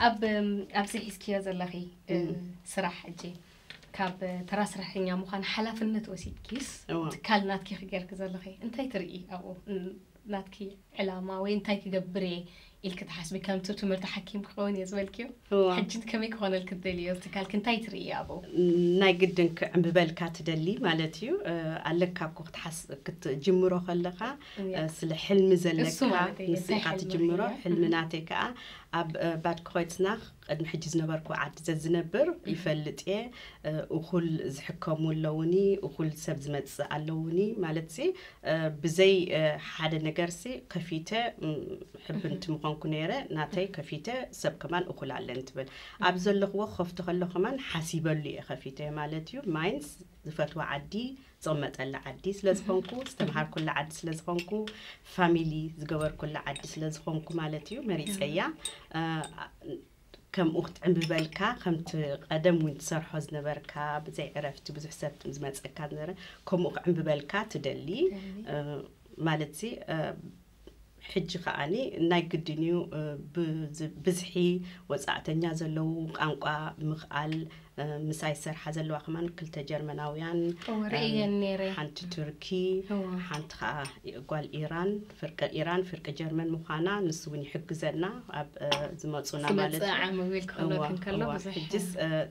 ኣብ ኣብዚ ሒዝክዮ ዘለኺ ስራሕ ሕጂ ካብ ተራ ስራሕተኛ ምዃን ሓላፍነት ወሲድኪስ ትካል ናትኪ ክገርኪ ዘለኺ እንታይ ትርኢ ኣብኡ ናትኪ ዕላማ ወይ እንታይ ክገብር እየ ኢልኪ ትሓስቢ ከምቲ ትምህርቲ ሓኪም ክኸውን እየ ዝበልክዮ ሕጂ ከመይ ክኾነልኪ ትደልዮ ትካልኪ እንታይ ትርኢ ኣብኡ ናይ ግድን ክዕምብበልካ ትደሊ ማለት እዩ ኣለካ እኮ ክትሓስ ክትጅምሮ ከለኻ ስለ ሕልሚ ዘለካ ምስ ኢኻ ትጅምሮ ሕልሚ ናተይ ከዓ ኣብ ባድ ክኾይትስናኽ ቅድሚ ሕጂ ዝነበርኩ ዓዲ ዘዝነብር ይፈልጥ እየ እኹል ዝሕከሙ ኣለውኒ እኹል ሰብ ዝመፅእ ኣለውኒ ማለት ሲ ብዘይ ሓደ ነገር ሲ ከፊተ ሕብንቲ ምኾንኩ ነይረ ናተይ ከፊተ ሰብ ከማን እኹል ኣለን ትብል ኣብ ዘለኽዎ ከፍቶ ከሎ ከማን ሓሲበሉ እየ ከፊተ ማለት እዩ ማይንስ ዝፈትዋ ዓዲ ዝቕመጠላ ዓዲ ስለ ዝኾንኩ ዝተምሃርኩላ ዓዲ ስለ ዝኾንኩ ፋሚሊ ዝገበርኩላ ዓዲ ስለ ዝኾንኩ ማለት እዩ መሪፀያ ከምኡ ክትዕምብበልካ ከምቲ ቀደም እውን ትሰርሖ ዝነበርካ ብዘይ ዕረፍቲ ብዙሕ ሰብ ዝመፀካ ዝነበረ ከምኡ ክዕምብበልካ ትደሊ ማለት ሲ ሕጂ ከኣ ናይ ግድን እዩ ብዝሒ ወጻእተኛ ዘለዉ ቃንቋ ምክኣል ምሳይ ዝሰርሓ ዘለዋ ከማን ክልተ ጀርመናውያን ሓንቲ ቱርኪ ሓንቲ ከዓ ጓል ኢራን ፍርቂ ኢራን ፍርቂ ጀርመን ምኳና ንሱ እውን ይሕግዘና ኣብ ዝመፁና ማለት ሕጅስ